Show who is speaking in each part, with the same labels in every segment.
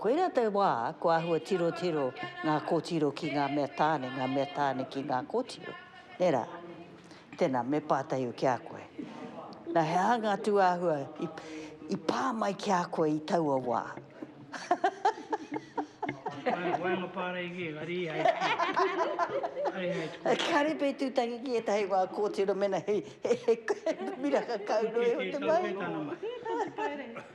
Speaker 1: Koirā te wā kua āhua tirotiro ngā kōtiro ki ngā mea tāne, ngā mea tāne ki ngā kōtiro, nē rā? Tēnā, me pātai au ki a koe, nā he aha ngā tūāhua i pā mai ki a koe i taua wā? He waenga
Speaker 2: pāreigi, engari i
Speaker 1: hei tuku. Kāre pea i tūtangi ki ētahi o ngā kōtiro mēnā he miraka kau noa iho te mahi. He tauwhē tana mahi.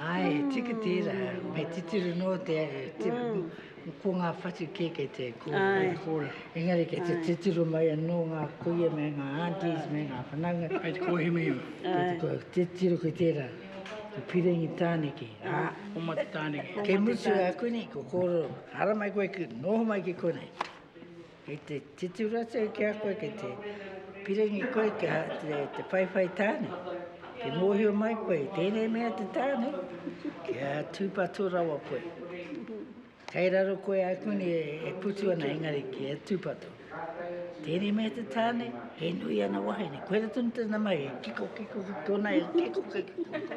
Speaker 3: Ae, tika tera, me titiro no te, te ko nga whatu ke ke te ko. Ae. Engari ke te titiro mai ano nga kuia me nga aunties me nga whanaunga. Kei te kohima iho.
Speaker 2: Kei te
Speaker 3: titiro ki tera, ko Pirangi Taneke, a. Omata
Speaker 2: Taneke. Ke mutu aku
Speaker 3: nei, ko kororo, haramai koe ki, noho mai ki konei. Kei te titu ratu ki a koe, kei te piringi koe ki a te, te whaiwhai tāne. Kei mōhio mai koe, tēnei mea te tāne, ki a tūpato rawa koe. Kei raro koe a kuni e, e putu ana engari ki a tūpato. Tēnei mea te tāne, he nui ana wahine. Koe ratu ni tēnā mai, e kiko, kiko, kiko, nei, e kiko, kiko, kiko.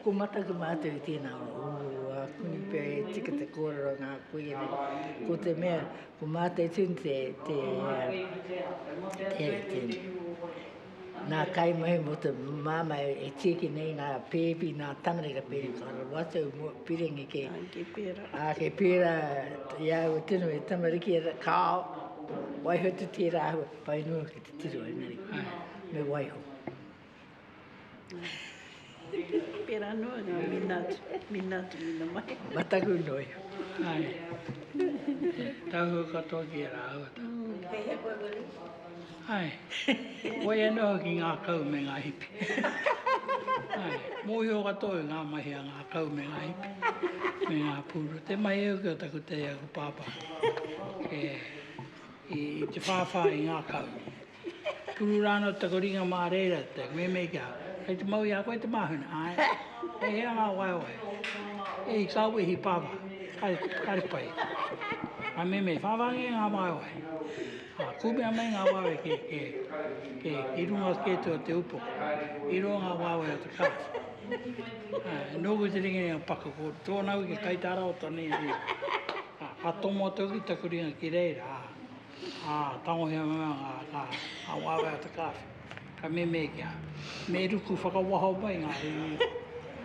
Speaker 3: Ko Mataku mātou i tēnā wā. Ū, ākuni pea e tika te kōrero o ngā kuia nei. Ko te mea, ko mātou tonu te, te, te, te, ngā kaimahi mō te māmā e tiaki nei ngā pēpi, ngā tamariki ka pēpi, ka rawatu mō piringi kē. Āke pērā. Āke
Speaker 4: pērā,
Speaker 3: i a au e tino e tamariki, kāo, waiho te tērā āhua, whai noa ki te tiro engari, me waiho.
Speaker 4: Pera noa nga minatu, minatu mina mai. Mataku noi.
Speaker 3: Ai.
Speaker 2: Tahu katoa ki a raua ta.
Speaker 1: Kei he
Speaker 2: koe Willie? Ai. Koi ano hoki nga kau me nga hipi. Ai. Mohio katoa i nga mahi a nga kau me nga hipi. Me nga puru. Te mahi au ki o taku tei aku papa. I te whawha i nga kau. Tunu rā anō taku ringa mā reira te meme ki ahau. Kei te mau i a koe te māhuna? Āe. He hea ngā waewae? He hikawe, he pāpā. Kāre pai. Ka meme, whāwāngia ngā waewae. Ā, kūmea mai ngā waewae ki, ki, ki, ki runga atu kē atu o te upoko. I rō ngā waewae o te kāri. Ā, nōku te ringaringa o Paka, ko tōna wiki kai tā rāua tonu i a ia. Ā, ka tōmua atu hoki taku ringa ki reira, ā. Ā, tangohia mai a ngā, ngā, ngā waewae o te kāwhe. Ka mēmēkia, me ruku whakawaho mai ngā iwi,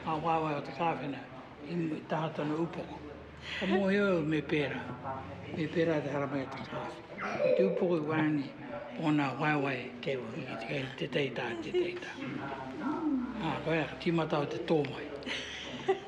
Speaker 2: ngā waewae o te kāwhe nei, i taha tonu upoko. Ka mōhio au me pērā, me pērā te haramai o te kāwhe. Ko te upoko i waenganui i ōna waewae kei waho ki te, te teitā, te teitā. Ā, koia, ka tīmata au te tō mai.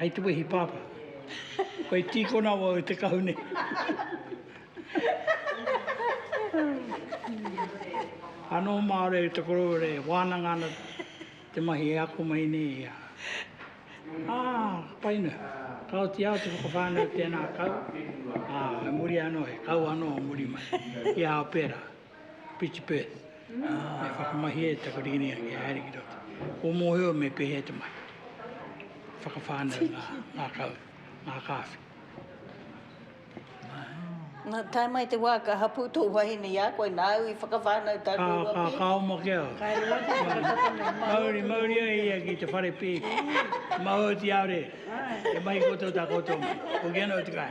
Speaker 2: Hei te wehi pāpā. Ko e tīkona au e te kahu nei. Anō māre te koroua e wānanga ana te mahi e ako mai nei i a. Ā, pai noa. Ka oti au te whakawhānau tēnā kau, ā, i muri anō he kau anō muri mai i ā pērā. Pretty bird. E whakamahia e taku ringiringa kia haere ki roto. Kua mōhio me pēhea te mahi. Whakawhānau ngā, ngā kau, ngā kāwhi.
Speaker 1: Nā, tae mai te wā ka hapū tō wahine i a koe, nāu i whakawhānau tā koe Ka, ka, ka oma ki
Speaker 2: au. Mauri, mauri ai ia ki te whare pēpi. Mahue ki au re. E mahi koutou tā koutou mahi. Hoki ana au te kai.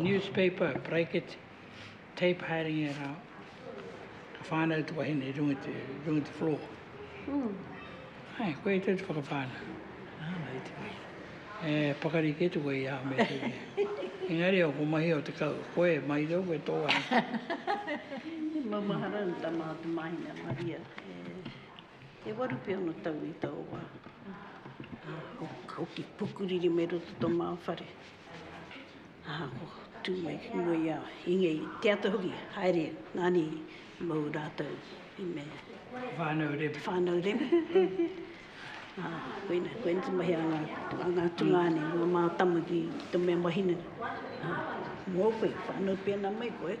Speaker 2: Newspaper, bracket, tape haerenga e rā, ka whānau te wahine i runga te, runga te floor. Mm. Hai, koe i tau te whakawhānau. Nā, nā, i te wai. E, pakari kē te wai aha me te wai. Engari o ko mahi o te kau, koe, mai rau, koe tō wai. He maumaharau
Speaker 4: tā Maha Te Māhine a Maria. E waru pea ana tau i taua wā, ā, ko Hoki Pukuriri me roto tō Māwhare, ā, ko tū mai ki mua i a Inge i te ata hoki, haere, nāni i mau rātou i me. Te whānau Reme.
Speaker 2: Te whānau Reme,
Speaker 4: ā, koina, koina te mahi a ngā, a ngā tungāne, ngā mātama ki, ki te mea mahinenga, ā, mō koe, whānau pēnā mai koe.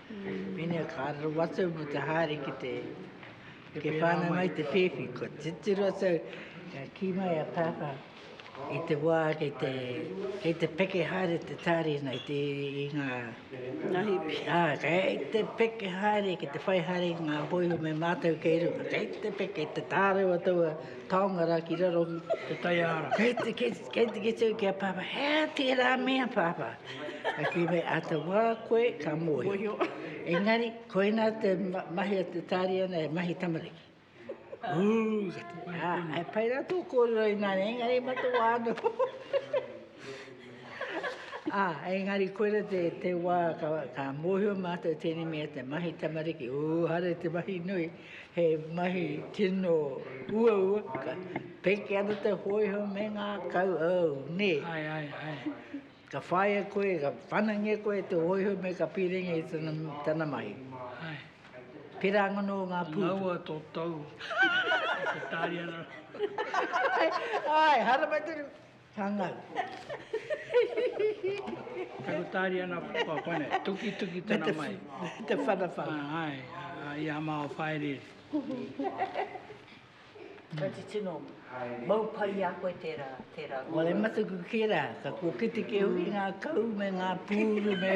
Speaker 3: Pēnei ka raro atu au mō te haere ki te ke whānau mai te whēwhi. Ko titiro atu au, ka kī mai a Pāpā i te wā kei te, kei te peke haere te tārina i, te, i ngā... Ngā hipi.
Speaker 4: Ā, kei
Speaker 3: te peke haere, kei te whai haere ngā hōiho me mātou kei runga. Kei te peke, te tārewa taua taonga rā ki raro. Te taiāra.
Speaker 2: Kei te, kei, kei
Speaker 3: te kite au ki a Pāpā, he tērā mea Pāpā. Ka kīwei āta wā koe ka mōhio. Engari, koinā te mahi a te tāriana he mahi tamariki. Ā, he pai rā tō kōrero inā nei, engari e matawā ana. Ā, engari koirā te, te wā ka, ka mōhio mātou tēnei mea te mahi tamariki. Ū, haere te mahi nui, he mahi tino uaua. Ka peke ana te hōiho me ngā kau, ōu, nē. Ai, ai, ai.
Speaker 2: Ka
Speaker 3: whaia koe, ka whanangia koe e te hōiho me ka pīrenge i tana, tana mahi. Hai.
Speaker 2: Pērā
Speaker 3: angono o ngā pūtu. Ngaua tō tou
Speaker 2: i te tāria na.
Speaker 3: Āe, harama tonu, ka ngau.
Speaker 2: Kei ko tāria na papa koinei, tukituki tana mahi. Me te whanawhana.
Speaker 3: Hai, a
Speaker 2: ia mao whaereere.
Speaker 1: Tati tino, mau pai i a koe tērā, tērā kōrero. Wale mataku
Speaker 3: kē rā, ka kōkiti kē hoki ngā kau me ngā pūru me.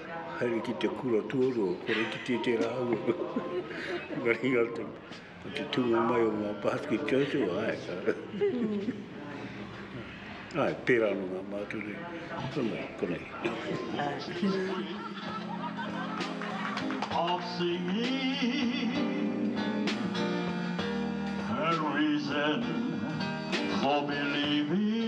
Speaker 5: Haere ki te kura tuarua, kore ki te te rāua. Ngari ngā te, ko te tūnga mai o ngā pātiki tōtō, ai. Ai, pērā no ngā mātou nei. Kona, kona. I'll
Speaker 6: sing me a reason for believing.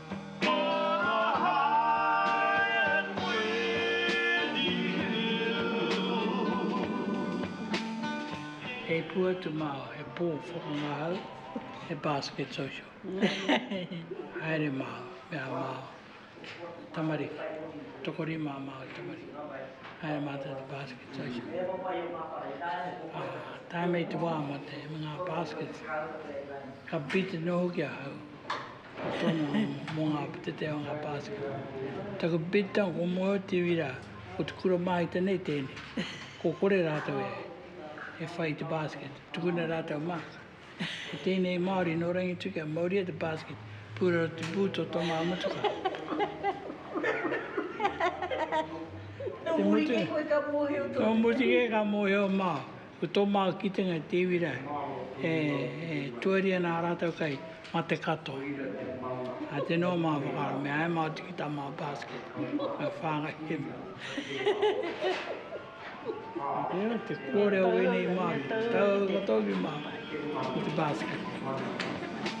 Speaker 2: He pua te mao, he po whakangahau, he basket social. Haere mao, me aha mao, tamariki, tokorima a mao i tamariki. Haere matou te basket social. Tae me te wa mo te nga baskets, ka beaten no hoki ahau. Ko tōna home mō ngā putete o ngā Pākehā. Taku bidtang ko Moeoa te iwi rā, ko te kura māhita nei tēnei. Ko kore rātou e e whai i te basket, tukuna rātou mark. Ko tēnei Māori nō Rangitu kia mauria te basket, pūraro te boot o tō ngā motuka. Nō muri kē koe ka mōhio tonu. Nō muri kē ka mōhio māu. Ko tō māu kitenga e te iwi rau, e tuari ana ā rātou kai mate katoa. Ā tēnā o māu whakaaro, me āia māu tiki tā māu basket, me whāngai te mea. Hehehehe. Te kōrero o ēnei Māori, taua tō iwi māu, ko te basket.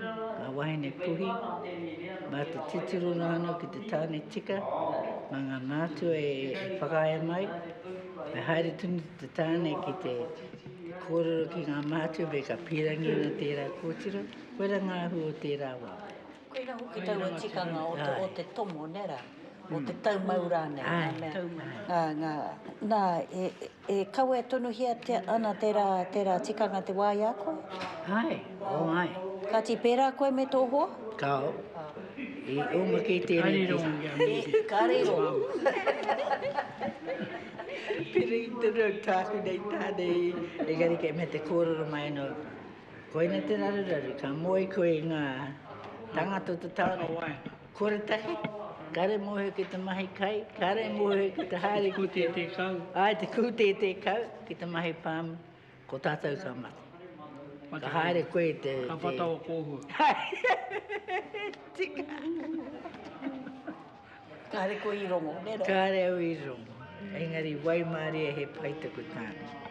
Speaker 3: Ngā wāhine puhi, mā te titiro rānō ki te tāne tika, mā ngā mātua e whakaea mai, me haere tonu te tāne ki te kōrero ki ngā mātua me ka pīrangi ana tērā kōtiro, koira ngā ahu o tērā wā. Koira hoki
Speaker 1: taua tikanga o te, o te tomo, nē rā? O te taumau rānei? Āe,
Speaker 3: taumau. Nā,
Speaker 1: e, E kawe tonuhiatia ana tērā, tērā tikanga te wā i a koe? Āe,
Speaker 3: āe. Kāti, pērā
Speaker 1: koe me tō hoa? Kāo.
Speaker 3: I oma kei tēnei te. Karero. Karero. Pērā i te reo tāku nei tāne i. Engari kei mea te kōrero mai anō, koina te raruraru, ka moe koe i ngā tāngata o te taone. Kore tahi, kare mohe ki te mahi kai, kare mohe ki te haere ki te... Te kūtētē kau. Ai, te
Speaker 2: kūtētē
Speaker 3: kau ki te mahi pāmu, ko tātou ka mate. Mate ka haere koe te... Ka whata o
Speaker 2: kōhua.
Speaker 3: Tika.
Speaker 1: Ka haere koe i rongo, nē rā? Ka haere au i rongo.
Speaker 3: Engari, waimarie he pai taku tāne.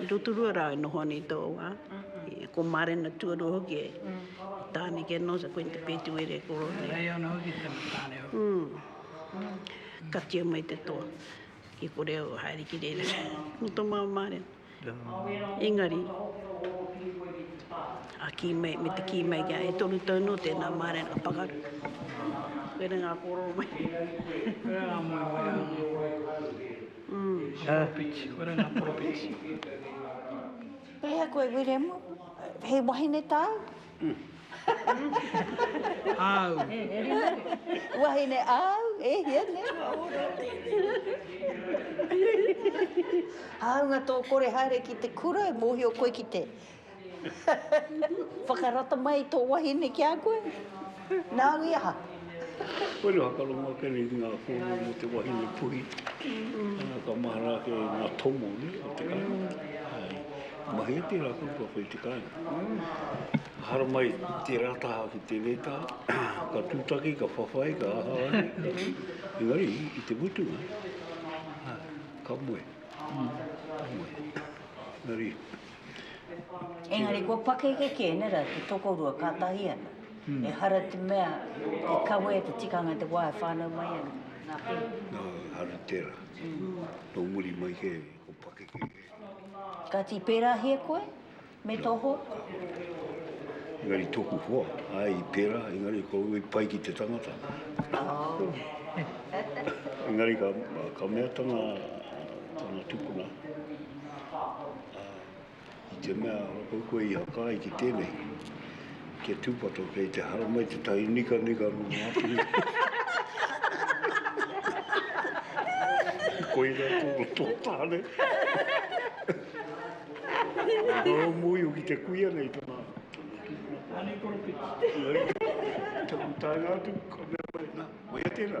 Speaker 4: I Rotorua rā e noho ana i tō wā, ko Mārena tuarua hoki e, ko Tāne Kenosa, ko Inti Pētuere e koro nei. Hei ana hoki tana tāne
Speaker 2: hoki. Katia
Speaker 4: mai te toa, kia kore au e haere ki reira. Nō tō māua mārena. Engari, a kī mai, me te kī mai kia e toru tau nō tēnā mārena ka pakaru. Koira ngā kōrero mai.
Speaker 2: Koira ngā moemoeā. Poropiti, koira
Speaker 1: nga poropiti. He aha koe Wiremu? He wahine tāu?
Speaker 2: Āu.
Speaker 1: Wahine āu? E hia nei? Hāunga tō kore haere ki te kura e mōhio koe ki te. Whakarata mai tō wahine ki a koe? Nāu i aha? Koinei
Speaker 5: whakarongo ake nei ki ngā kōrero mō te wahine puhi. Ka mahara ake i ngā tomo o te kāinga. Ka mahi ake rā kua kua whai te kāinga. Haramai tērā taha ki tēnei taha. Ka tūtaki, ka whawhai, ka aha ake. Engari i te mutunga, ka moe. Ka moe. Engari.
Speaker 1: Engari kua pakeke ki ēnei rā te tokorua kātahi ana. Mm. Ehara te mea te kawe te tikanga i te wā e whānau mai ana. Nā pēhi. Nā, haru
Speaker 5: tērā. Mm. Tō muri mai ke, ko pakeke ke. Kāti
Speaker 1: pērāhia koe me tō hoa?
Speaker 5: Engari tōku hoa, ai i pērā, engari ko i pai ki te tangata. Oh. engari ka, ka mea tana, tana tupuna, Ā, i te mea ora kau koe i haka ai ki tēnei, ki a Tūpato, kei te haramai tētahi nikanika nō Ngāpuhi. Koirā tōna tō tāne. Ka rau mōhio ki te kuia nei tana
Speaker 2: tūpuna.
Speaker 5: Taku taenga atu, ka mea mai, nā, koia tērā.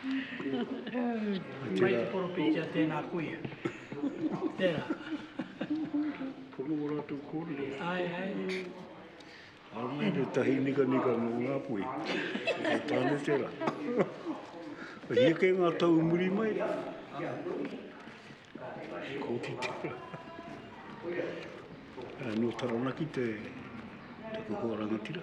Speaker 2: Mai te poropītia tēnā kuia. Tērā.
Speaker 5: Pono o rātou kōrero. Āe, āe. Ānei te tahi nikanika nō Ngāpuhi. He tāne tērā. Ka hia kē ngā tau muri mai. Kōti tērā. Nō Taranaki te kuhu o Rangatira.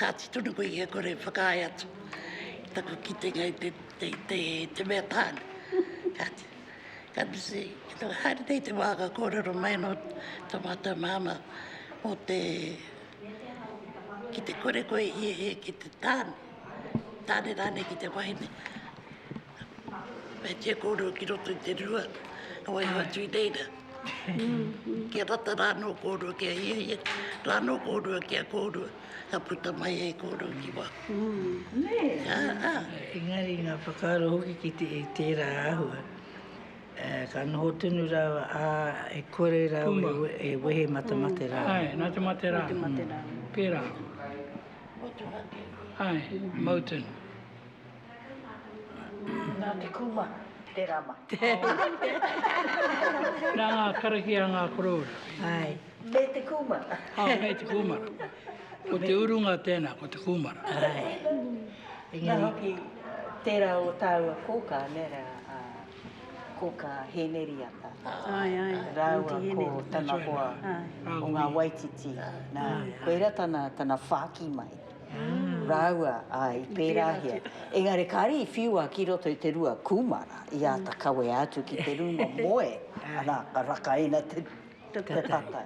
Speaker 7: Kāti tonu koe i a kore whakaae atu i taku kitenga i te, te, te, te mea tāne. Kāti, ka misi, ki tō haere nei te wā ka kōrero mai nō tō mātou māma mō te, ki te kore koe i e he ki te tāne, tāne rānei ki te wahine. Kei te kōrero ki roto i te rua, ka waiho atu i reira. Kia rata rā nō kōrua ki a ia ia, rā nō kōrua ki a kōrua, ka puta mai hei kōrua ki wā.
Speaker 3: Engari ngā whakaaro hoki ki te i tērā āhua, ka noho tonu rāua, ā, e kore rāua e wehe mā te mate rā. Āe, nā te mate rā.
Speaker 2: Pērā. Motuhake. Āe, Moton.
Speaker 1: Nā te kūmara, tērā mai.
Speaker 2: Nā ngā karakia a ngā koroua. Āe, me
Speaker 3: te
Speaker 1: kūmara. Āe, me te kūmara.
Speaker 2: Ko te urunga tēnā, ko te kūmara.
Speaker 3: Āe. Nā
Speaker 1: hoki, tērā o tāua kōkā, nē reira, a Kōkā Hēneriata. Āe, āe.
Speaker 4: Rāua ko
Speaker 1: tana
Speaker 4: hoa
Speaker 1: o ngā Waititi. Nā, koira tana whāki mai. Rāua, āe, i pērāhia. Engari kāre i whiua ki roto i te rua kūmara, i āta kawea atu ki te rūma moe, arā, ka rakaina te tata.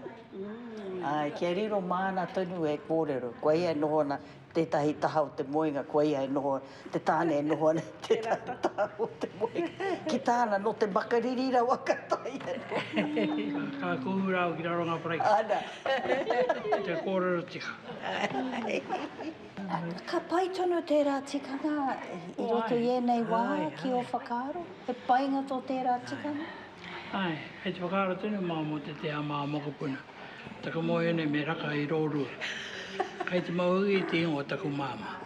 Speaker 1: Āe, kia riro māna tonu e kōrero, koia e noho ana, tētahi taha o te moenga, koia e noho ana. Te tāne e noho ana ki te taha o te moe, ki tāna nō te makariri rawa ka taea noa. Ka kuhu rāua
Speaker 2: ki raro ngā paraiki. Ana.
Speaker 1: Te
Speaker 2: kōrero tika.
Speaker 1: Ka pai tonu tērā tikanga i roto i ēnei wā ki ō whakaaro? He painga tō tērā tikanga? Āe,
Speaker 2: kei te whakaaro tonu māu mō te tea mā mokopuna. Taku moe nei me raka i rōrua. Kei te mauī te ingoa taku māmā.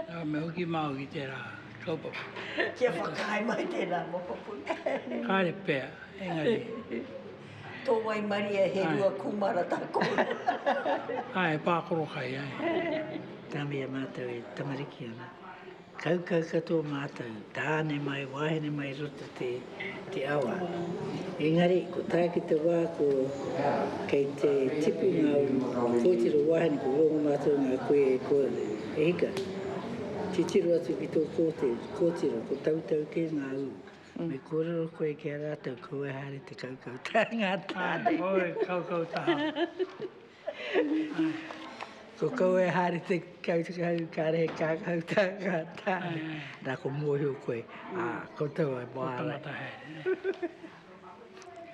Speaker 2: Nā, me hoki māu ki tērā kaupapa. Kia whakaae
Speaker 1: mai tērā moko puka. Kāre pea,
Speaker 2: engari. Tō
Speaker 1: waimarie he rua kūmara tā kōrua. Āe, he pākoro
Speaker 2: kai, āe. Tāmia mātou
Speaker 3: e tamariki ana. Kaukau katoa mātou, tāne mai, wāhine mai i roto te, te awa. Engari, ko tā ki te wā ko, kei te tipu ngā kōtiro wāhine, ko rongo mātou ngā koe e koa, e hika. Titiro atu ki tō kōte, kōtiro, ko tautau kē ngā ū. Me kōrero koe ki a rātou, ko wai haere te kaukau taha ngā tāne. Oi, kaukau
Speaker 2: taha.
Speaker 3: Ko koe e haere te kautukau, kāre he kākau tā kātā. Nā, ko mōhio koe, ā, koutou e wāngai. Ko tangata haere.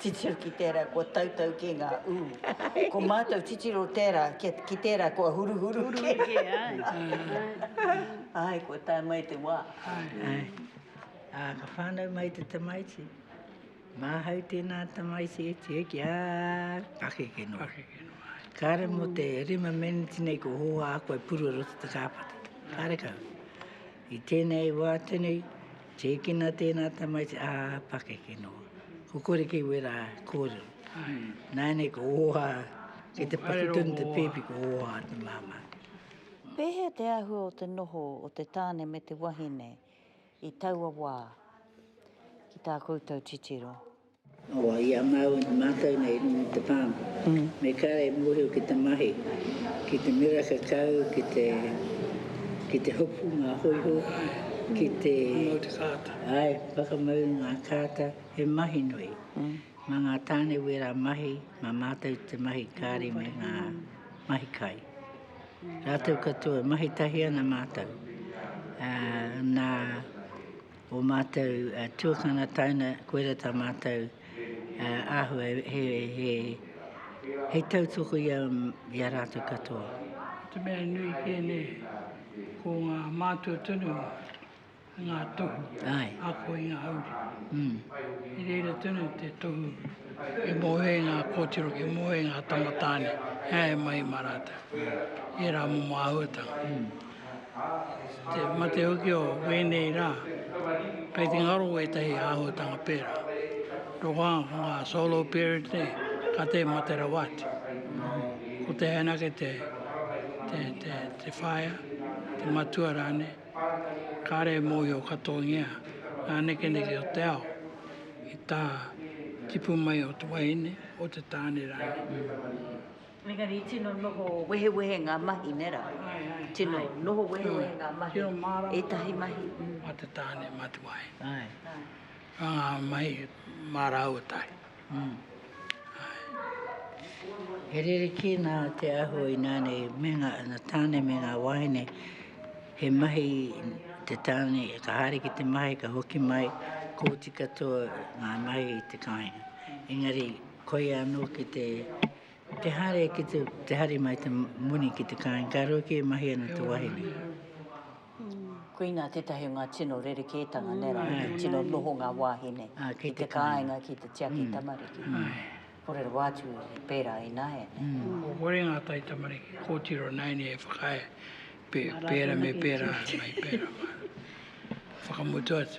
Speaker 1: Titiro ki tērā kua tautau kē ngā ū. Ko mātou titiro tērā, ki tērā kua huruhuru kē. Huruhuru kē, āe. Āe, kua tae mai te wā. Āe.
Speaker 3: Ā, ka whānau mai te tamaiti. Māhau tēnā tamaiti e tū ki a pakeke noa. Kāre mō te rima meneti nei kua hōhā aku e purua roto te kāpata. Kāre kau. I tēnei wā tonu, tēkina tēnā tamaiti a pakeke noa. Ko kore kei wera kōrero. Nāinei kua hōhā, kei te paku tonu te pēpi kua hōhā te māmā. Pēhea
Speaker 1: te āhua o te noho o te tāne me te wahine? i taua wā, ki tā koutou titiro. Awa, i
Speaker 3: a māua ki mātou nei i runga i te palm, me kare e mōhio ki te mahi, ki te mira kakau, ki te, ki te hopu ngā hoiho, ki te. Whakamau te
Speaker 2: kāta. Āe, whakamau
Speaker 3: ngā kāta, he mahi nui. Mā ngā tāne wērā mahi, mā mātou te mahi kāri me ngā mahi kai. Rātou katoa, mahi tahi ana mātou, ā, nā ō mātou tuakana taina, koirā tā mātou āhua hei tautoko i a rātou katoa. Ko te mea
Speaker 2: nui kē nei, ko ngā mātua tonu. Ngā tohu a koinga
Speaker 3: hauri.
Speaker 2: I reira tonu te tohu e moe ai ngā kōtiro, e moe ai ngā tamatāne e haere mai mā rātou i ērā momo āhuatanga. I te mate hoki o wēnei rā, kei te ngaro wētahi āhuatanga pērā. Rokohā ko ngā solo parent nei, ka tē mate rawa atu. Ko te haina ake te whaea, te matua rānei. Kāre e mōhio katoagia ngā nekeneke o te ao i tā tipu mai o te wahine, o te tāne rānei. Engari
Speaker 1: i tino noho wehewehe ngā mahi, nē rā? Tino noho wehewehe ngā mahi. Tino mārama. Ētahi
Speaker 2: mahi.
Speaker 1: Mā te tāne,
Speaker 2: mā te wahine. Āe.
Speaker 3: Āe. Mā ngā
Speaker 2: mahi mā rāua tahi.
Speaker 3: He rerekē nā te āhua ina nei me ngā tāne me ngā wāhine he mahi te tāne ka haere ki te mahi ka hoki mai kōti katoa ngā mahi i te kāinga. Engari koia anō ki te te haere ki te, te haere mai te moni ki te kāinga ka rua kē mahi ana te wāhine.
Speaker 1: Koina tētahi o ngā tino rerekētanga, nē rā, he tino noho ngā wāhine ki te kāinga ki te tiaki tamariki. Kōrero atu i pērā i nāianei. Kua kore ngā
Speaker 2: taitamariki kōtiro nāianei e whakaae pērā me pērā mai pērā. Whakamutu atu.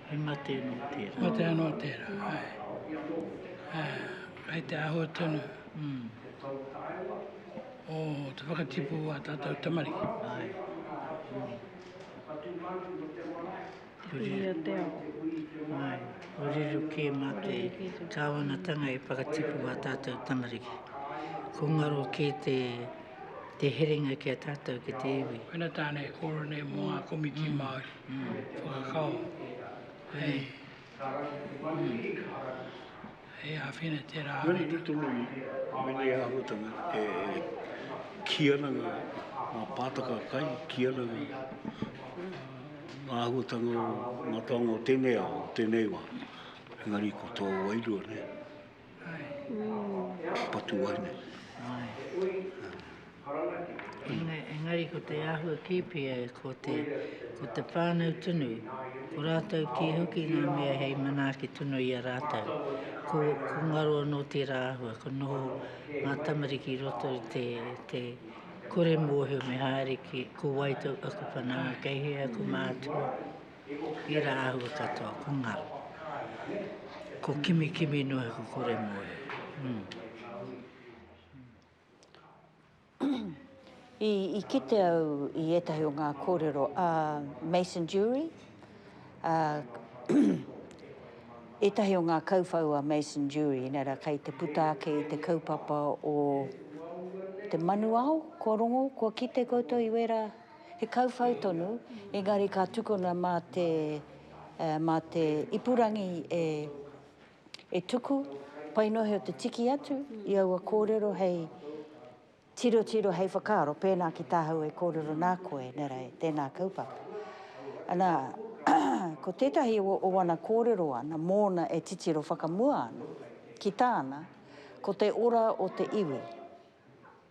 Speaker 3: He mate anō tērā. Mate anō tērā,
Speaker 2: āe. Kei te āhua tonu o te whakatipu o ā tātou tamariki. Āe.
Speaker 4: Hui a te ao. Āe,
Speaker 3: kōrero kē mā te Kāwanatanga e whakatipu ā tātou tamariki. Ko ngaro kē te herenga ki a tātou ki te iwi. Koina tāna e kōrero
Speaker 2: nei mō ngā komiti Māori. whakakao hei hei āwhina tērā āhuatanga. Mēnā i tono i
Speaker 5: ēnei āhuatanga e kī ana ngā pātaka kai, kī ana ngā āhuatanga o ngā taonga o tēnei ao, o tēnei wā, engari ko tō wairua nei. Patu ai
Speaker 3: nei. Engari ko te āhua kē pea ko te, ko te whānau tonu, ko rātou kē hoki ngā mea hei manaaki tonu i a rātou. Ko, ko ngaro anō tērā āhua, ka noho ngā tamariki i roto i te, te kore mōhio me haere ki, ko wai tō aku whanaunga, kei hea aku mātua. He rā ahua katoa, ko ngaro. Ko kimikimi noa ko kore moe.
Speaker 1: I, i kite au i ētahi o ngā kōrero a Mason Durie, a ētahi o ngā kauwhau a Mason Durie, nē rā, kei te puta ake i te kaupapa o te manuao, kua rongo, kua kite koutou i wērā. He kauwhau tonu, engari ka tukuna mā te, mā te ipurangi e, e tuku, painohe o te tiki atu i aua kōrero hei tirotiro, hei whakaaro, pēnā ki tāhau e kōrero nā koe, nē rā, tēnā kaupapa. Ana, ko tētahi o, o ana kōrero ana, mōna e titiro whakamua ana, ki tāna, ko te ora o te iwi.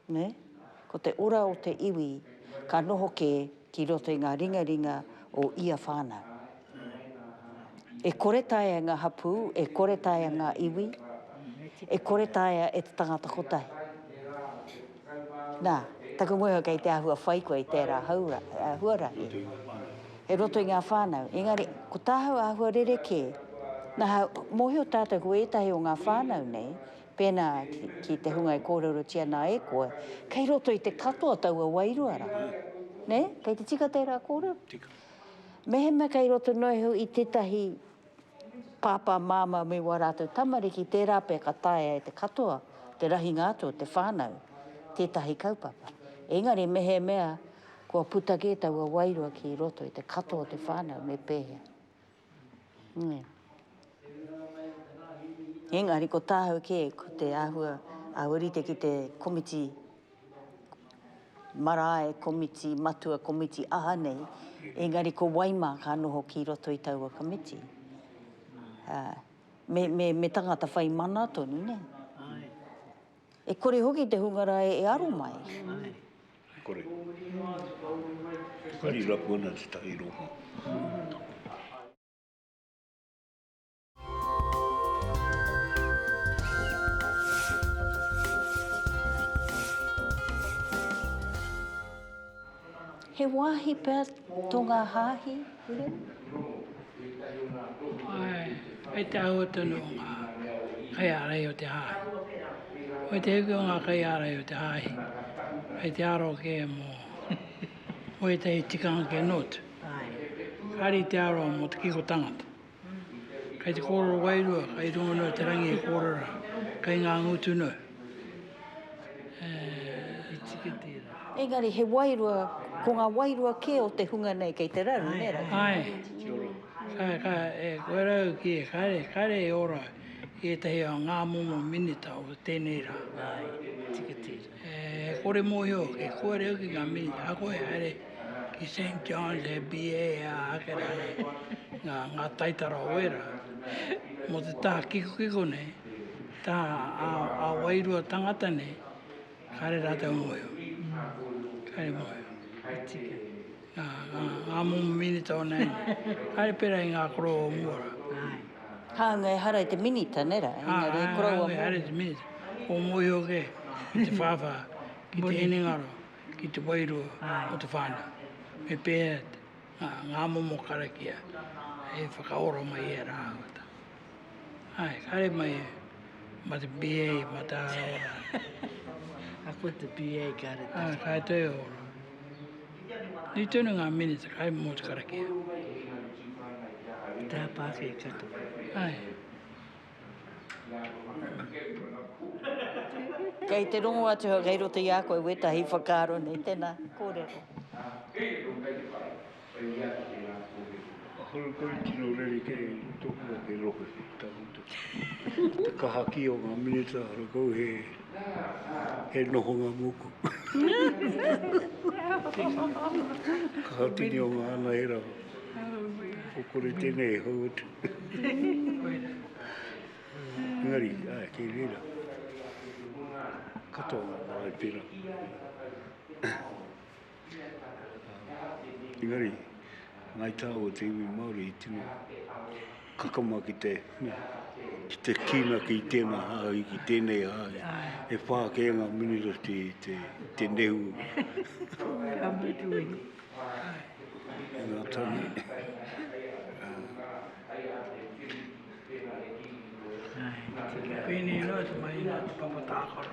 Speaker 1: Ne? Ko te ora o te iwi ka noho kē ki roto i ngā ringaringa o ia whānau. E kore taea ngā hapū, e kore taea ngā iwi, e kore taea e te tangata kotahi. Nā, taku ngohe kei te āhua whai koe i tērā haura, uh, huarahi. E roto i ngā whānau. Engari, ko tāhau āhua rerekē, nā, mōhio tātou ko ētahi o ngā whānau nei, Pēnā ki te hunga e kōrerotia nā e koe, kei roto i te katoa taua wairua rā. Nē? Kei te tika tērā kōrero? Tika.
Speaker 5: Mehemea
Speaker 1: kei roto noa iho i tētahi pāpā, māmā me wā rātou tamariki, tērā pea ka taea e te katoa te rahinga atu o te whānau tētahi kaupapa. Engari mehemea kua puta kē taua wairua ki roto i te katoa o te whānau, me pēhea? Engari ko tāhau kē, ko te āhua a Ōrite ki te komiti marae, komiti matua, komiti aha nei, engari ko wai mā ka noho ki roto i taua komiti. Me tangata whai mana tonu, nē? E kore hoki te hunga rae e aro mai. Ae. E
Speaker 5: kore. Whakari rapu ana te tahi rohe.
Speaker 1: He wāhi pea tō ngā hāhi
Speaker 2: hure? Ae, kei te āhua tonu o ngā kaiārahi o te hāhi. Kei te hiki o ngā kaiārahi o te hāhi, kei te aro kē mō ētahi tikanga kē noa atu. Kāre i te aro mō te kiko tangata. Kei te kōrero wairua, kei runga noa te rangi e kōrero, kei ngā ngutu noa.
Speaker 1: Engari he wairua, ko ngā wairua kē o te hunga nei kei te raru, nē rā? Āe,
Speaker 2: ka, ka, e koe rau ki, kāre, kāre e ora i ētahi o ngā momo minita o tēnei rā. Āe, tika tērā. He kore mōhio, he kore hoki ngā minita ako e haere ki St Johns he BA e aha ake rā nei, ngā taitara o ērā. Mō te taha kikokiko nei, taha ā-wairua tangata nei, kāre rātou mōhio, kāre mōhio. Ngā momo minita o neini. Haere pera i ngā koroua o mua ra. Hāunga
Speaker 1: ehara i te minita, nē ra? Engari he koroua mōhio. Hāunga ehara i te minita.
Speaker 2: Kua mōhio ake ki te whāwhā, ki te hinengaro, ki te wairua o te whānau. Me pēhea ngā momo karakia e whakaora mai i ērā āhuatanga. Āe, haere mai mā te BA, mā te ārai rā. Ka
Speaker 3: puta BA, ka reta. Āe, ka toi ora.
Speaker 2: Nui tonu ngā minita kai mō te karakia.
Speaker 3: Te hapākei katoa. Ae.
Speaker 1: Kei te rongo atu hau kei roto i a koe wētahi whakaaro nei. Tēnā, kōrero. Ahakoa
Speaker 5: i tino rerekē i roto o te rohe, ka mutu, te kaha kī o ngā minita, ahakoa he. He noho ngā mōku. Ka hatini o ngā ana e rau. Ko kore tēnei e hau atu. Engari, ai, kei reira. Katoa ngā marae pērā. Engari, Ngāi Tāua o te iwi Māori i tino kakama ki te, ki te kīnaki i tēnā hāhi, ki tēnei hāhi. E whā kē ngā minita te, te, te nehu. Ngā tani.
Speaker 2: Koinei noa te mai nā te papa tākaro.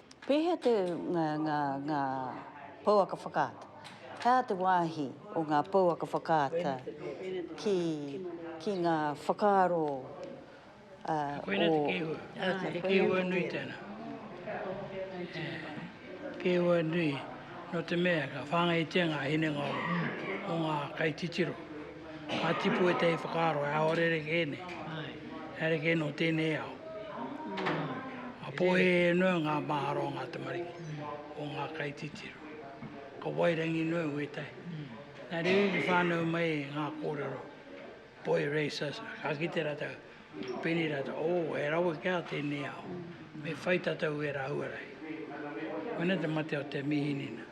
Speaker 1: Pēhea te ngā, ngā, ngā pouaka whakaata? He aha te wāhi o ngā pouaka whakaata ki, ki ngā whakaaro,
Speaker 2: ā, o... Koinā te kēhua. Ā, koinā te kēhua. He kēhua nui tēnā. He kēhua nui, nō te mea ka whāngaitia ngā hinengaro o ngā kaititiro. Ka tipu ētahi whakaaro, he ao rerekē nei, he rerekē nō tēnei ao. Ka pōhēhē noa ngā mahara o ngā tamariki, o ngā kaititiro. Ka wairangi noa wētahi. Nā reira i whānau mai ngā kōrero, boy racers, ka kite rātou. Pēnei rātou, Oh, he rawe kē ā tēnei ao. Me whai tātou ērā huarahi. Koinei te mate o te mīhinina.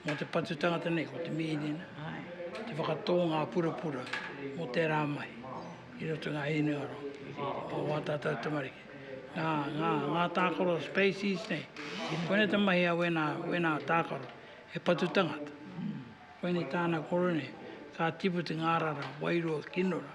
Speaker 2: Mō te patu tangata nei, ko te mīhinina, te whakatō ngā purapura mō tērā mahi i roto ngā hinengaro o ā tātou tamariki. Ngā, ngā, ngā tākaro species nei, koinei te mahi a wēnā, wēnā tākaro, he patu tangata. Koinei tāna kōrero nei, ka tipu te ngārara wairua kino rā.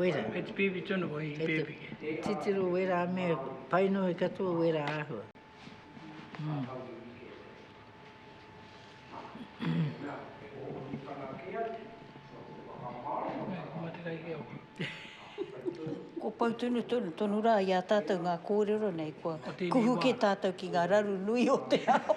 Speaker 3: wera. Hei te pēpi tonu
Speaker 2: ko hei pēpi. Hei te titiro wera
Speaker 3: me pai nohi katoa wera āhua.
Speaker 1: Ko pau tonu tonu tonu rā i a tātou ngā kōrero nei kua kuhu kē tātou ki ngā raru nui o te ao.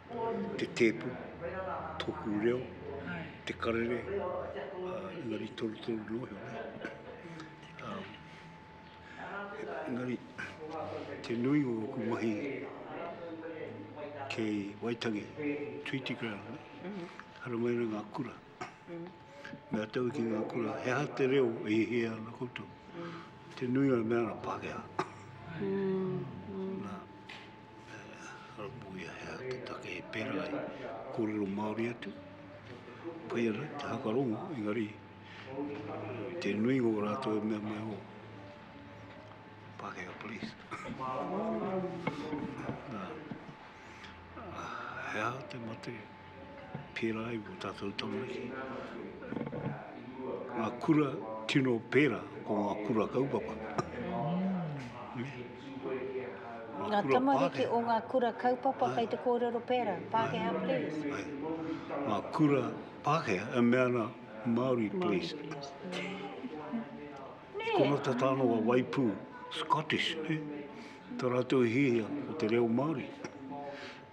Speaker 5: te tēpu, tōku reo, te karere, engari torutoru noa iho nei. Engari, te nui o ōku mahi kei Waitangi, Treaty Ground, haramai ngā kura. Me a tau ki ngā kura, he aha te reo e hihia ana koutou? Te nui o mea ana Pākehā. Haramuia he aha te take e pērā ai kōrero Māori atu, pai ana te hakarongo, engari i te nuinga o rātou e mea mai, oh, Pākehā police. Nā, he aha te mate? Pērā i ō tātou tamariki. Ngā kura tino pērā ko ngā kura kaupapa. Ngā tamariki
Speaker 1: o ngā kura kaupapa kei te kōrero pērā, Pākehā please. Ngā
Speaker 5: kura Pākehā, e mea ana Māori please. Nē. Ko ngā tātāno a Waipū, Scottish, nē. Tā rātou i hihia ko te reo Māori.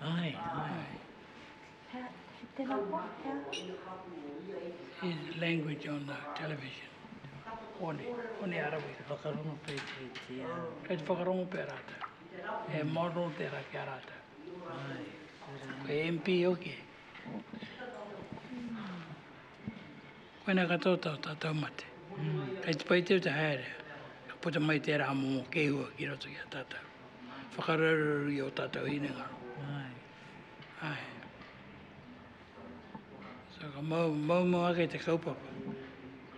Speaker 3: Ai, ai. He, he tena koa,
Speaker 2: he a? He language on the television. Hone, hone arawira. Whakarongo pē ki, ki
Speaker 3: a? Kei te
Speaker 2: whakarongo pē rātou. He model tērā ki a rātou. Ai, tērā. Ko MP hoki. Koinā katoa tā tātou mate. Kei te pai teu te haere, ka puta mai tērā momo kēhua ki roto i a tātou. Whakaraureuru i ō tātou hinengaro. Āe. So ka mau, maumau ake te kaupapa.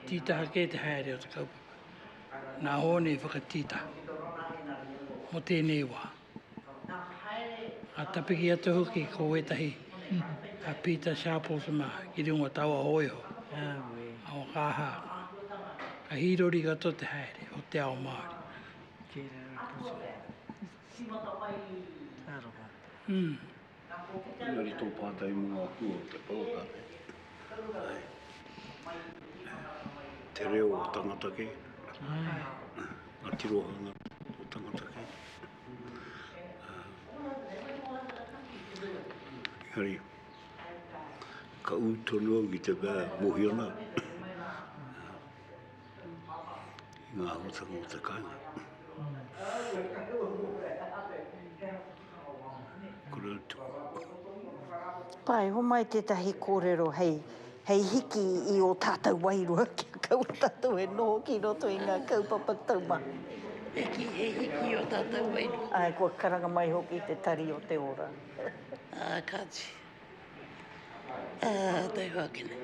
Speaker 2: Tītaha kē te haere o te kaupapa. Nā Hōne i whakatītaha mō tēnei wā. Ka tapiki atu hoki ko wētahi a Pita Sharples mā ki ringo taua hōiho a Wakaha. Ka hīrori katoa te haere o te ao Māori. Kei raro i puta. Taro
Speaker 5: mā. Engari tō pātai mō ngā hua o te poraka nei, te reo o tangata kē, ngā tirohanga o tangata kē. Engari, ka ū tonu au ki te mea e mōhio ana i ngā āhuatanga o te kāinga.
Speaker 1: Āe, homai tētahi kōrero hei, hei hiki i ō tātou wairua kia kaua tātou e noho ki roto i ngā kaupapa taumaha. Hiki, he
Speaker 7: hiki i ō tātou wairua. Āe, kua karanga mai
Speaker 1: hoki te tari o te ora. Ā,
Speaker 7: kāti. Ā, taihoa ake nei.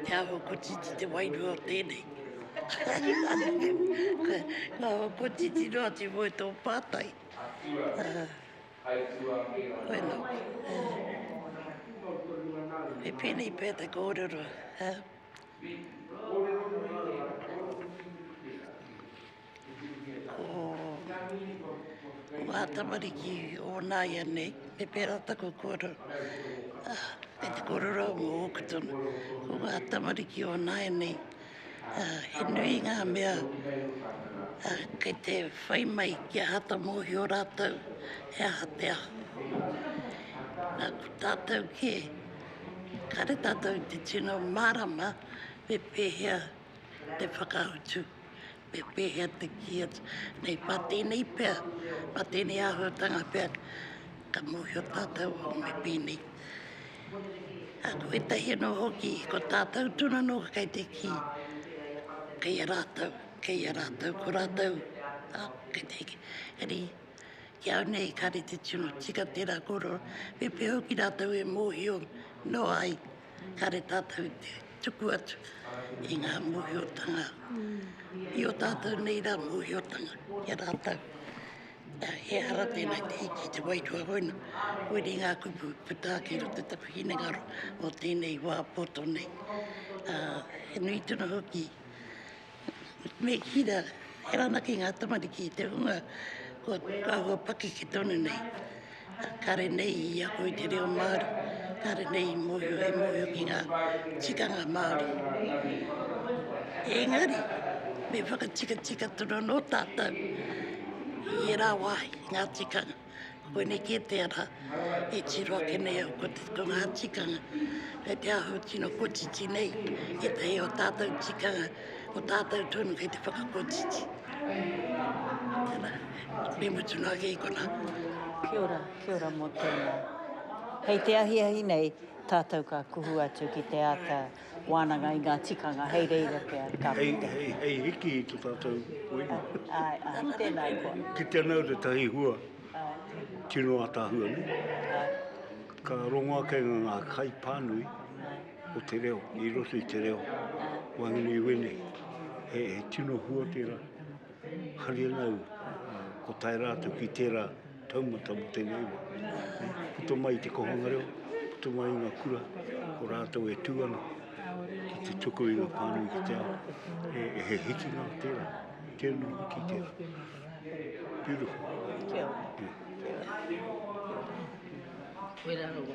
Speaker 7: Te aho kotiti te wairua o tenei. Nga aho kotiti noa te moe to patai. E penei pe te korero. Ko ngā tamariki o nāianei, me pērā taku kōrero, me te kōrero au mō ōku tama, ko ngā tamariki o nāianei, he nui ngā mea kei te whai mai kia āta mōhio rātou he aha te aho. Nā, ko tātou kē, kāre tātou i te tino mārama me pēhea te whakautu. me pēhea te kī atu, nei pā tēnei pea, pā tēnei āhuatanga pea, ka mōhio tātou me pēnei. A ko ētahi anō hoki, ko tātou tūna nō kei te kī, kei a rātou, kei a rātou, ko rātou, a, kei te hiki. Engari, ki au nei, kāre te tino tika tērā kōrero, me pēhea hoki rātou e mōhio noa ai, Kare tātou i te tuku atu i ngā mōhiotanga i o tātou nei rā mōhiotanga ki a rātou. Ehara tēnei te hiki i te wairua hoina, koiri ngā kupu i puta ake i roto i taku hinengaro mō tēnei wā poto nei. He nui tonu hoki Me hira, he ranaki ngā tamariki i te hunga kua āhua pakeke tonu nei. Kare nei i ako i te reo Māori, kare nei i mōhio, i mōhio ki ngā tikanga Māori. Engari, me whakatikatika tonu anō tātou i ērā wāhi, ngā tikanga. Koinei kē te ara e tiro ake nei au ko te ko ngā tikanga me te aho tino kotiti nei, ētahi o tātou tikanga, o tātou tonu kei te whakakotiti. Tēnā, me mutu noa kē kona. Kia ora,
Speaker 1: kia ora mō tēnā. Hei te ahiahi nei, tātou ka kuhu atu ki te āta Wānanga i ngā tikanga hei reira pea ka puta. Hei, hei, hei hiki i to
Speaker 5: tātou waiho. Āe, āe,
Speaker 1: tēnā koa. Ki te nau te tahi
Speaker 5: hua, tino atahua nei. Ka rongo ake ngā ngā kai pānui o te reo, i roto i te reo. Wāngina i wēnei, he, he tino hua tērā. Haria nau, ko tae rātou ki tērā. Taumata mō tēnei wā. Puta mai i te kōhanga reo, puta mai i ngā kura, ko rātou e tū ana ki te tuku i ngā pānui ki te ao. E, e he hiki ngā tērā, tēnā hiki tērā. Beautiful. Kia ora. Kia
Speaker 1: ora.
Speaker 3: Wera rawa.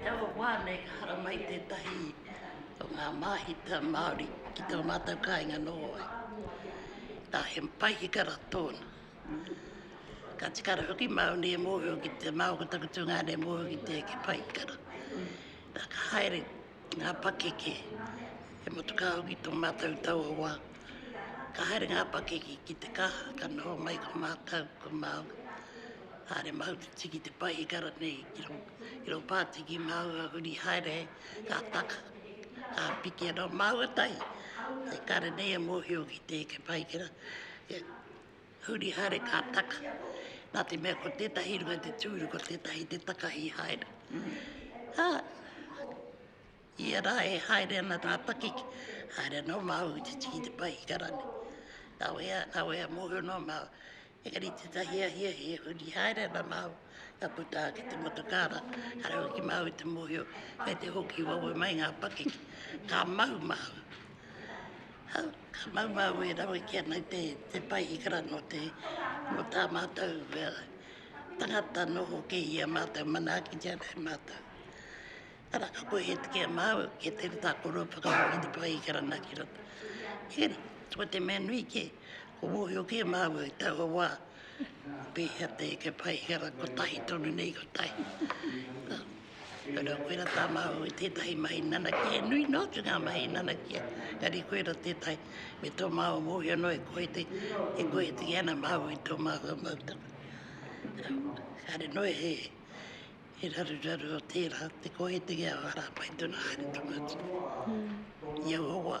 Speaker 7: He aha wā nei ka hara mai tētahi o ngā māhita Māori ki tō mātou kāinga nō ai? Nā, he paihikara tōna. Ka tika rawa hoki māu nei e mōhio ki te, māu ko taku tungāne e mōhio ki te paihikara. Nā, ka haere Ngā pakeke, he motukāhu ki tō mātou tauawā. Ka haere ngā pakeke ki te kaha, ka noho mai ko mātou, ko Māui. Haere mahu te tiki te pai i kara nei, ki rō, ki rō pātiki māu a huri haere, ka taka, ka piki anō māua tahi. E kare nei e mōhio ki te eke paikera, Huri haere ka taka. Nā te mea ko tētahi runga te tūru, ko tētahi te takahi haere. Ā, ia rā e haere ana tā pakeke, haere anō māu i te tiki te pai i karani. Kawea, kawea mōhio noa māu. Engari tētahi a hiahia, huri haere ana māu. Ka puta ki te motokaara, ka reo ki māu te mōhio, me te hoki wawe mai ngā pakeke. Ka mau māu. Hau, ka mau māu e rawe ki anai te, te pai i kara no te, no tā mātou uh, tangata noho ke i a mātou, mana ki te anai mātou. Kara ka koe he tiki a māu, ke te rita koro whakaro ki te pai i kara naki rata. Kena, ko te mea nui ke, ko mōhio ke māu i taua wā, Pehea te eke pai he ara kotahi tonu nei kotahi. Kore koera ta mahu i tetahi mahi nanakia he nui no atu nga mahi nanakia engari koera tetahi me to mahu mohio no e koe te e koe te ana mahu i to mahu mau ta. Kare no he he raru raru o tera te koe te a ara pai tona haere tonu atu. Ia hoa.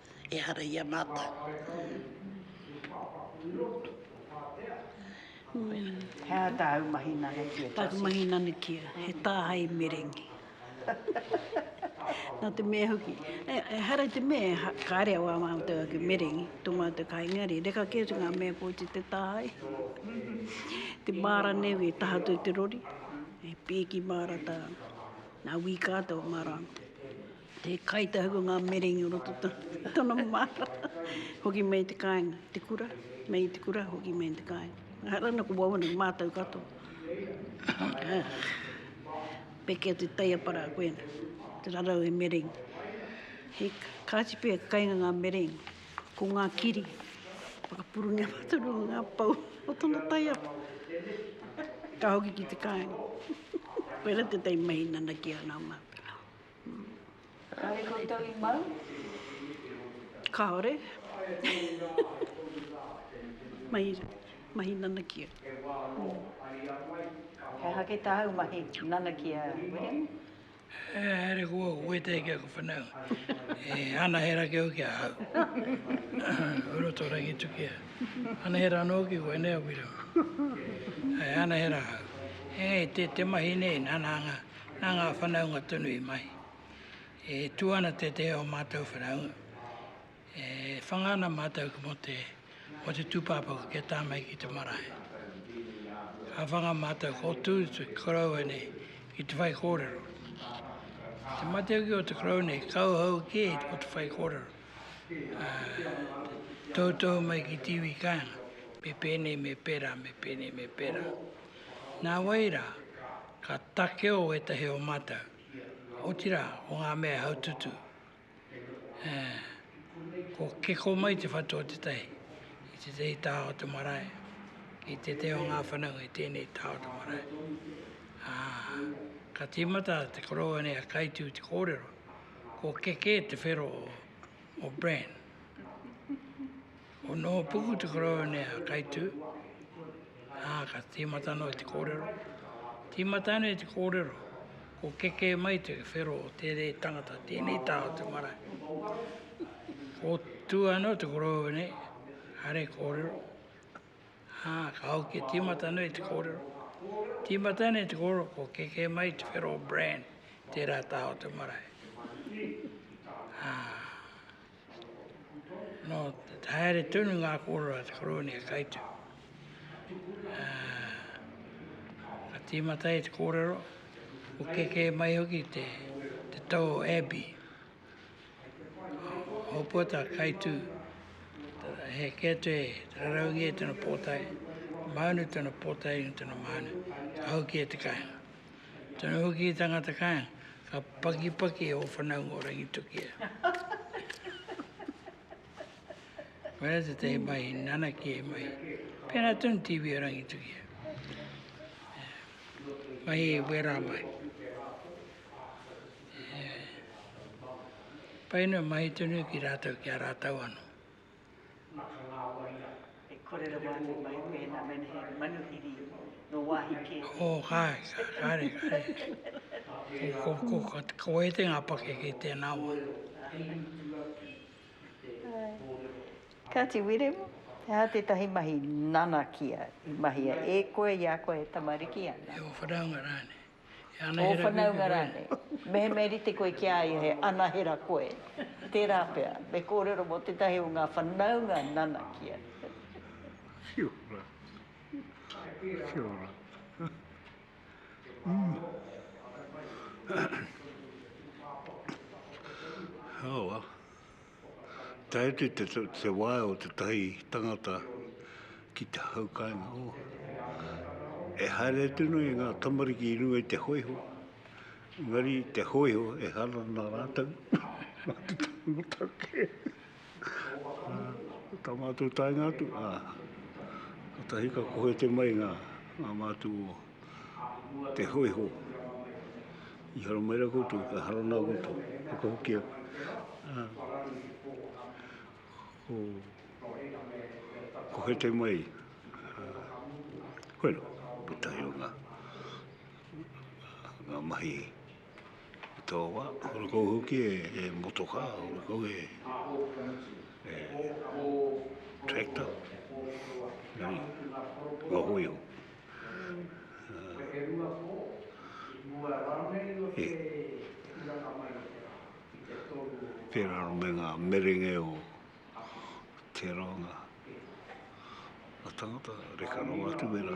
Speaker 7: ehara i a mātou.
Speaker 1: He aha tāu mahi nanukia? Tāku mahi nanukia,
Speaker 4: he tāhae merengi. Nā te mea hoki, ehara i te mea, kāre au ā mātou ake merengi, tō mātou ka engari, reka kē atu ngā mea kōti te tāhae. Te māra nei wē, taha atu i te rori, e pēki māra tāna. Nā wī kātou māra. Te kai te hau o ngā merengi o roto tana māra. Hoki mai i te kāinga, i te kura, mai i te kura hoki mai i te kāinga. Ehara ana ko wau ana, mātau katoa. Pekea te taiapara a koe ana, te rarau he merengi. He kāti pea ka kainga ngā merengi, ko ngā kiri, whakapurungia mātau rua ngā pou o tana taiapa. Ka hoki ki te kāinga. Koira tētahi mahi nanakia nā mātau.
Speaker 1: Kāore koutou i mau? Kāore.
Speaker 4: Mahi, mahi nanakia.
Speaker 1: He aha kei tāu mahi nanakia, William? E
Speaker 2: haere koe au, koe tē ki aku whanau. E anahera ki au ki ahau. Kua roto rangi tukia. Anahera anō ki koe, nē a William? E anahera ahau. Engei, tē te mahi nei, nana anga. Nā ngā whanaunga tonu i mahi. E tū ana te te o mātou whanaunga. E whanga ana mātou ki mō te, mō te tūpāpaku kia tā mai ki te marae. A whanga mātou ko tū te koroua nei ki te whai kōrero. Te mateuki o te korou nei, kauhau kē ko te whai kōrero. A, toutou mai ki tīwī kāinga, me pēnei me pērā, me pēnei me pērā. Nā wai rā, Ka takeo ētahi o mātou, otirā, o ngā mea e haututu, ā, kua kiko mai te whatu o tētahi i tētahi taha o te marae, ki tētahi o ngā whanaunga i tēnei taha o te marae, ā, ka tīmata te koroua nei a Kaitu i te kōrero, kua kekē te whero o Bran. Ko nō puku te koroua nei a Kaitū, ā, ka tīmata noa te kōrero. Tīmata nei te kōrero, ko kekē mai te whero o tēnei tangata, tēnei tā o te marae. Ko tū anō te koroua nei, are kōrero, ā, ka hoki tīmata noa i te kōrero. Tīmata nei te kōrero, ko kekē mai te whero o Bran, tērā tā o te marae. Ā. Nō te haere tonu ngā kōrero a te Koroua e Kaitu. Ka tīmata ai te kōrero, ko keke mai hoki te tau o Abbey. Hōpua tā Kaitu, he kē atu e te raraungi e tana pōtae, māunu tana pōtae, tana māunu, ka hau ki e te kāinga. Tana hoki i tangata kainga, ka pakipaki e o whanaunga o Rangitukia. Koia te te mai, nana ki e mai. Pena tun TV o Rangitukia. Mai e wera mai. Paino mai tunu ki rātou, ki a rātou ano.
Speaker 1: Nga ka ngawari a. E kore rawa ake mai pēnā mena he manuhiri
Speaker 2: nō wāhi kē te. Oh kai, kare, kare. Ko, ko, ko, ko wai te ngā pakeke i tēnā wā.
Speaker 1: Kāti Wiremu, he aha tētahi mahi nanakia i mahia e koe i a koe e tamariki ana? E o whanaunga rānei.
Speaker 2: Ō
Speaker 1: whanaunga rānei. Mehemea i rite koe ki a ia he anahera koe, tērā pea, me kōrero mō tētahi o ngā whanaunga nanakia.
Speaker 5: Whiu rā. Whiu rā. Oh well. Tae atu i te, te wae o te tahi tangata ki te hau kāinga o. E haere atu no i ngā tamariki i runga i te hoiho. Ngari te hoiho e hana nā rātou. Mā te tangata kē. Tā mātou taenga atu, ā. Katahi ka kohe te mai ngā, ngā mātou o. te hōiho. I haramera koutou, ka harana koutou, whakahokia. Ah. Ko, ko he te mai. Koe no, ko tahi o ngā, ngā mahi i tō wā. Hore kou hoki e, e motoka, hore kou e, e tractor. Nani, ngā hōiho. Pērā me ngā merenga o te rānga a tangata, reka noa atu wērā.